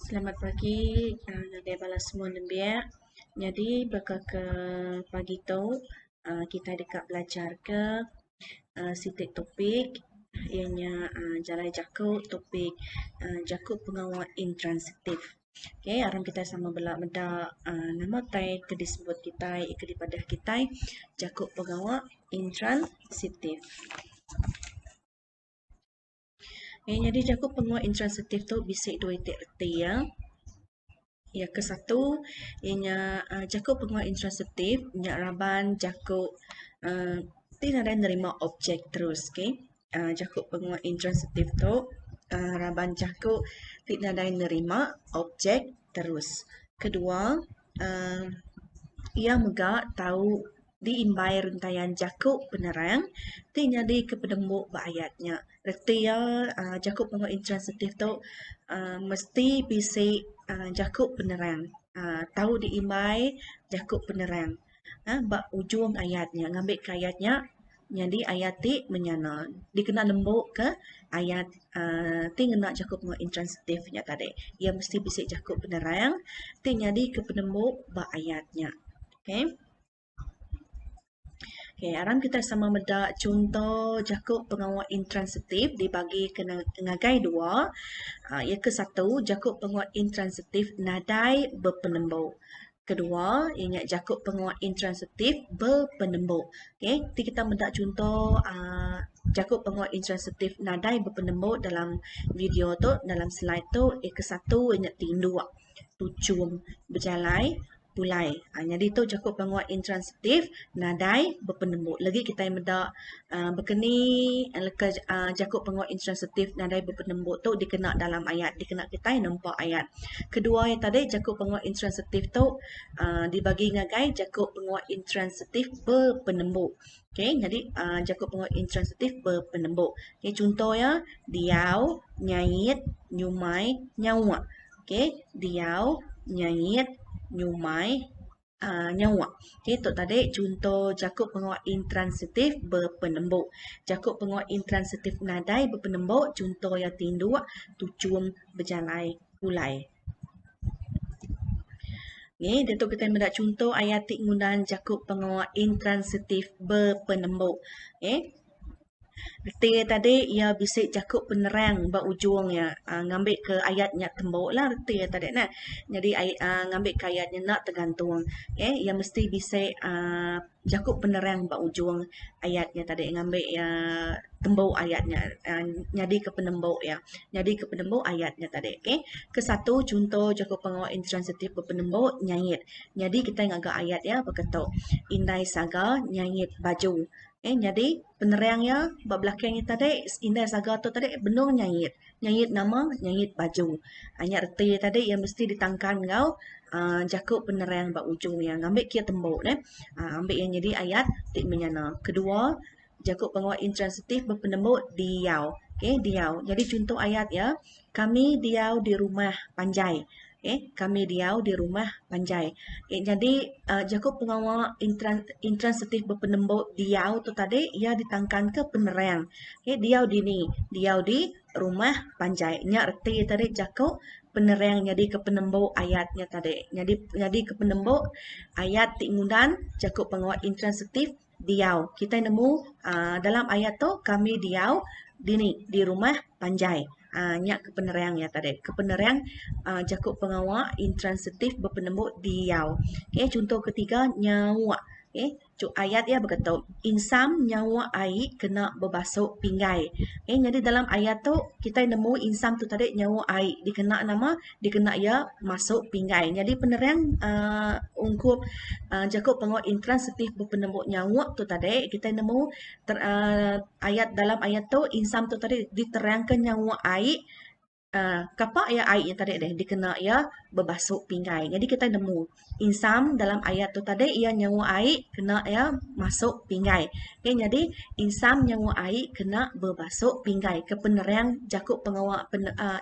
Selamat pagi ngagai bala semua nembiak. Nyadi baka ke pagi tu uhh kitai deka belajar ke uhh siti topik iya nya uhh jalai jaku topik uhh jaku pengawa intransitif. Okay aram kitai sama bala meda uhh nama utai ke disebut kitai ke dipadah kitai jaku pengawa intransitif. Okey, nyadi jaku penguat intransitif tu bisi dua iti reti iya. Iya ke satu iya nya uhh jaku penguat intransitif nya raban jaku uhh ti nadai nerima objek terus ke. uhh Jaku penguat intransitif tu uhh raban jaku ti nadai nerima objek terus. Kedua uhh iya mega tau. diimbai rentayan jaku penerang ti nyadika penemu ba ayat nya. Reti iya, jaku pengudah intransitif tu uhh mesti bisi uhh jaku penerang uhh tau diimbai jaku penerang uhh ba ujung ayat nya ngambika ayat nya nyadi ayat ti menyana dikena nembu ke ayat uhh ti ngena jaku pengudah intransitif nya tadi. Iya mesti bisi jaku penerang ti nyadika penemu ba ayat nya. Okay. Okey, aram kitai sama meda chunto jaku pengawa intransitif dibagi ke ngagai dua. Iya ke satu, jaku pengawa intransitif nadai bepenembu. Kedua, iya nya jaku pengawa intransitif bepenembu. Okey, ti kitai meda chunto uhh jaku pengawa intransitif nadai bepenembu dalam video tu, dalam slide tu. Iya ke satu, iya nya tinduk, tuchum, bejalai. pulai nyadi tu jaku pengua intransitif nadai bepenembu lagi kitai meda bekeni leka jaku pengua intransitif nadai bepenembu tu dikena dalam ayat dikena kitai nempa ayat kedua iya tadi jaku pengua intransitif tu dibagi ngagai jaku pengua intransitif bepenembu okey nyadi jaku pengua intransitif bepenembu chunto iya diau nyait nyumai nyauk. Okey, diau, nyait, nyumai, aa, nyawa. Okey, tu tadi chunto jaku pengawa intransitif bepenembu. Jaku pengawa intransitif nadai bepenembu chunto iya tinduk, tuchum, bejalai, pulai. Ni diatu kitai meda chunto ayat ti ngundan jaku pengawa intransitif bepenembu. Okey. Reti iya tadi iya bisi jaku penerang ba ujung iya ngambi ke ayat nya tembu lah reti iya tadi neh nyadi ngambi ke ayat nya enda tergantung okay iya mesti bisi aaa jaku penerang ba ujung ayat nya tadi ngambi iya tembu ayat nya nyadi ke penembu iya nyadi ke penembu ayat nya tadi okay ke satu chunto jaku pengawa intransitif bepenembu nyait nyadi kitai ngaga ayat iya baka tu indai saga nyait baju. Okay, jadi penerang iya ba belakang iya tadi indai saga tu tadi benung nyait. Nyait nama? Nyait baju. Ai nya reti iya tadi iya mesti ditangkan enggau aaa jaku penerang ba ujung iya ngambi kia tembu neh. Aaa ambi iya nyadi ayat ti menyana. Kedua, jaku penguat intransitif bepenemu diau. Okay, diau. Jadi chunto ayat iya. Kami diau di rumah panjai. Okey, kami diau di rumah panjai. Okey, jadi uh, jaku pengawa intran, intransitif bepenembuk diau tu tadi ia ditangkanka penerang. Okey, diau di ni, diau di rumah panjai. Nya reti tadi jaku penerang nyadi ke penembuk ayat nya tadi. Nyadi nyadi ke penembuk ayat ti ngundan jaku pengawa intransitif diau. Kitai nemu aaa dalam ayat tu kami diau dini di rumah panjai. Aaa nya ke penerang iya tadi. Ke penerang aaa jaku pengawa intransitif bepenembu diau. Okey chunto ke tiga nyawa. Okey ayat iya baka tu insam nyawa ai kena bebasu pinggai. Okey nyadi dalam ayat tu kitai nemu insam tu tadi nyawa ai dikena nama? dikena iya masu pinggai. Nyadi penerang aaa ungkup aaa jaku pengawa intransitif bepenembu nyauk tu tadi kitai nemu ter aaa ayat dalam ayat tu insang tu tadi diterangka nyauk ai aaa kapa iya ai nya tadi dikena iya bebasu pinggai. Nyadi kitai nemu. insam dalam ayat tu tadi iya nyewa ai kena iya masuk pinggai okay nyadi insam nyewa ai kena bebasuk pinggai ke penerang jaku pengawa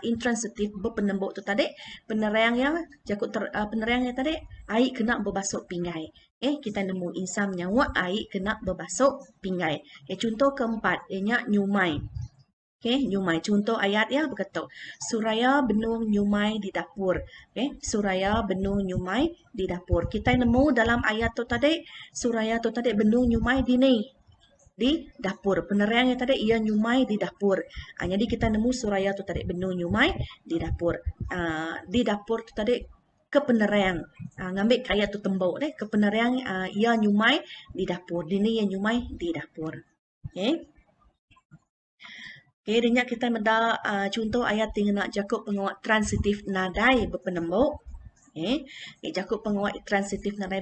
intransitif bepenembu tu tadi penerang iya jaku penerang iya tadi ai kena bebasuk pinggai okay kita nemu insam nyewa ai kena bebasuk pinggai chunto keempat iya nya nyumai Okey, nyumai. Chunto ayat iya baka tu. Suraya benung nyumai di dapur. Okey, Suraya benung nyumai di dapur. Kitai nemu dalam ayat tu tadi, Suraya tu tadi benung nyumai di ni? Di dapur. Penerang iya tadi, iya nyumai di dapur. Ha, nyadi kitai nemu Suraya tu tadi benung nyumai di dapur. Ha, di dapur tu tadi ke penerang. Ha, ngambi ke ayat tu tembu deh. Ke penerang iya nyumai di dapur. Di ni iya nyumai di dapur. Okay. Okay, dia nya kita meda uh, contoh ayat ti ngena jaku penguat transitif nadai bepenemu. Okay. okay jaku penguat transitif nadai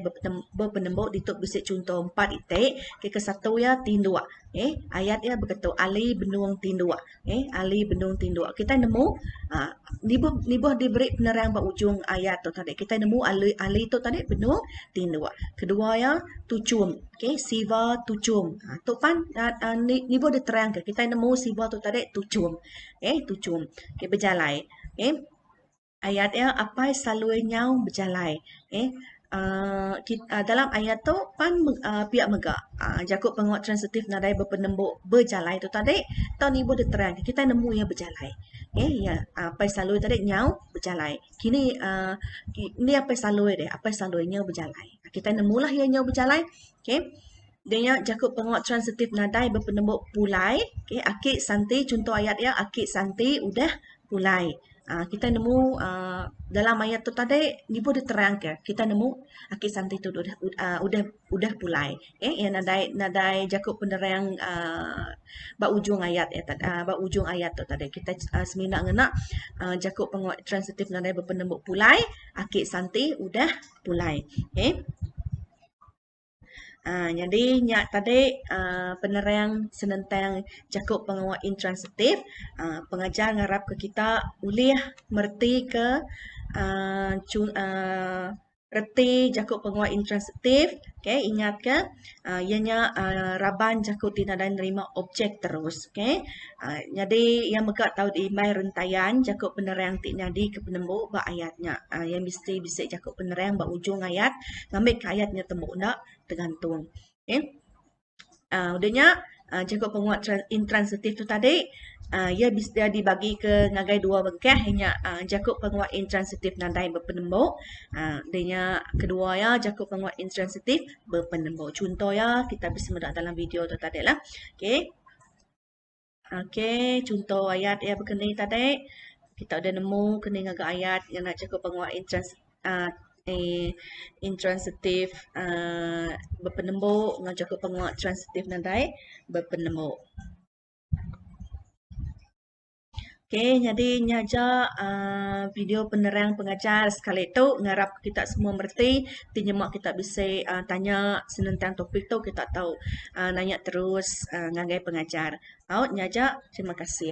bepenemu ditu bisi contoh empat itik. Okay, ke satu ya tinduk. Okay. Ayat ya begitu ali benung tinduk. Okay, ali benung tinduk. Kita nemu uh, nibuh nibuh diberi penerang ba ujung ayat tu tadi. Kita nemu ali ali tu tadi benung tinduk. Kedua ya tuchum. Okay, siva tuchum. Ha, tu pan uh, uh, nibuh diterang ke. Kita nemu siva tu tadi tuchum. Okay, tuchum. Okay, berjalai. Okay. Ayat iya apai salui nyau bejalai eh aaa dalam ayat tu pan pia mega jaku pengawa transitif nadai bepenembu bejalai tu tadi tau ni ibuh diterang ke kitai nemu iya bejalai eh iya apai salui tadi nyau bejalai kini aaa indi apai salui deh apai salui nyau bejalai kitai nemu lah iya nyau bejalai okay. Dia nya jaku pengawa transitif nadai bepenemu pulai. Okey, aki santi chunto ayat iya aki santi udah pulai. Aa kita nemu aa dalam ayat tu tadi nyebut diterangka kita nemu aki santi tu udah aa udah udah pulai. Okey iya nadai nadai jaku penerang aa ba ujung ayat iya tadi aa ba ujung ayat tu tadi kita semina ngena aa jaku pengawa transitif nadai bepenemu pulai aki santi udah pulai. Okey. Aa nyadi nya tadi aa penerang senentang jaku pengawa intransitif aa pengajar ngarapka kita ulih meretika aa chun aa reti jaku pengawa intransitif okey ingatka aa iya nya aa raban jaku ti nadai nerima objek terus okey. Nyadi iya mega tau diimbai rentayan jaku penerang ti nyadi ke penembu ba ayat nya. Iya mesti bisi jaku penerang ba ujung ayat ngambika ayat nya tembu enda tergantung. Okay. aaa udah nya aaa jaku penguat intransitif tu tadi aaa iya bisi dibagika ngagai dua bengkah inya aaa jaku penguat intransitif nadai bepenembu aaa udah nya kedua iya jaku penguat intransitif bepenembu. Chunto iya kita bisi meda dalam video tu tadi lah. Okay. Okey, chunto ayat iya bekeni tadi. Kita udah nemu keni ngaga ayat ngena chego pengua intrans aaa intransitif aaa bepenembu enggau chego pengua transitif nadai bepenembu. Ok nyadi nya aja aaa video penerang pengajar sekali tu ngarap kita semua mereti ti nyema kita bisi aaa tanya senentang topik tu kita tau aaa nanya terus aaa ngagai pengajar. Au nya aja terima kasih.